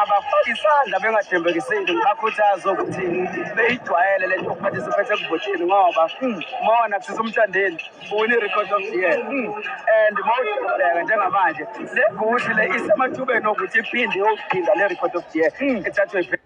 abafake isandla bengathembekisile ngibakhuthaze ukuthi beyijwayele le nto okuphatha isiphethe ekuvoteni ngoba mona kusisa umthandeni uwine i-record of the year and ma uzobheka njengamanje le gushi le isemathubeni okuthi iphinde yokuphinda le record of the year ethathwe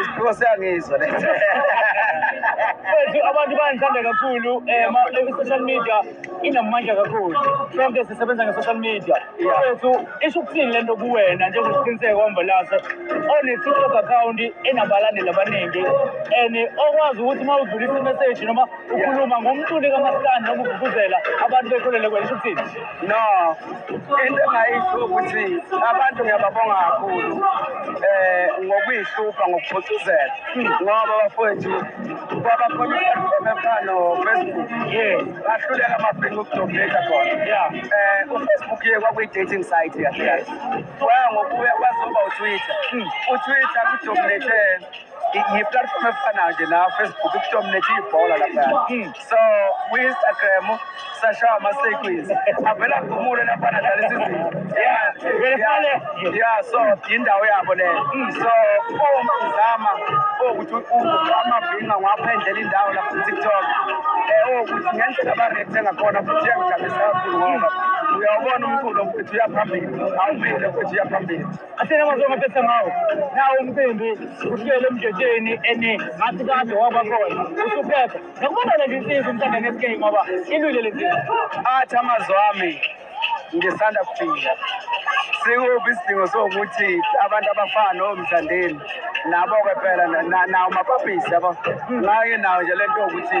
isiphiwo siyangizwa lesi Mfethu abantu bayangithanda kakhulu eh ma- eh, social media inamandla kakhulu. Sonke sisebenza nge-social media. Mfethu isho ukuthini lento kuwena njengosiqiniseko wambalase one-TikTok account enabalandeli abaningi and okwazi ukuthi uma udlulisa i-message noma ukhuluma ngomculi kamaskandi noma ugqugquzela abantu bekholele kwena isho ukuthini? No, into engayisho ukuthi abantu ngiyababonga kakhulu eh ngokuyihlupha ngokuphucuzela ngoba bafowethu kwaba khona i-platform efana nofacebook bahluleka amabhinga ukudobheka khona eh ufacebook ye kwakuyi-dating site kahle kahle waya ngokuya kwazoba utwitter utwitter kudominate ngiplatform efana nje na Facebook kusho mina nje ibhola lapha hmm. so kwi Instagram sashawa ama sequence avela kumule lapha na dlala isizini yeah yeah so indawo yabo le hmm. so uma uzama ukuthi ama binga ngapha endlela indawo lapha ku TikTok eh ukuthi ngendlela ba rate ngakhona futhi yangijabulisa kakhulu ngoba uyawubona umculo ukuthi uyaphambili awuvile ukuthi uyaphambili athena mazonga phetha ngawo nawo umcimbi uhlele emjotsheni and ngathi kade wabakhona usuphepha nokubona le zinsizi umthanda ne-sk ngoba ilwile le zinto athi amazwi ami ngisanda kuphila sikuphi isidingo sokuthi abantu abafana nomthandeni nabo-ke phela nawo mapapisi ngake nawo nje le nto yokuthi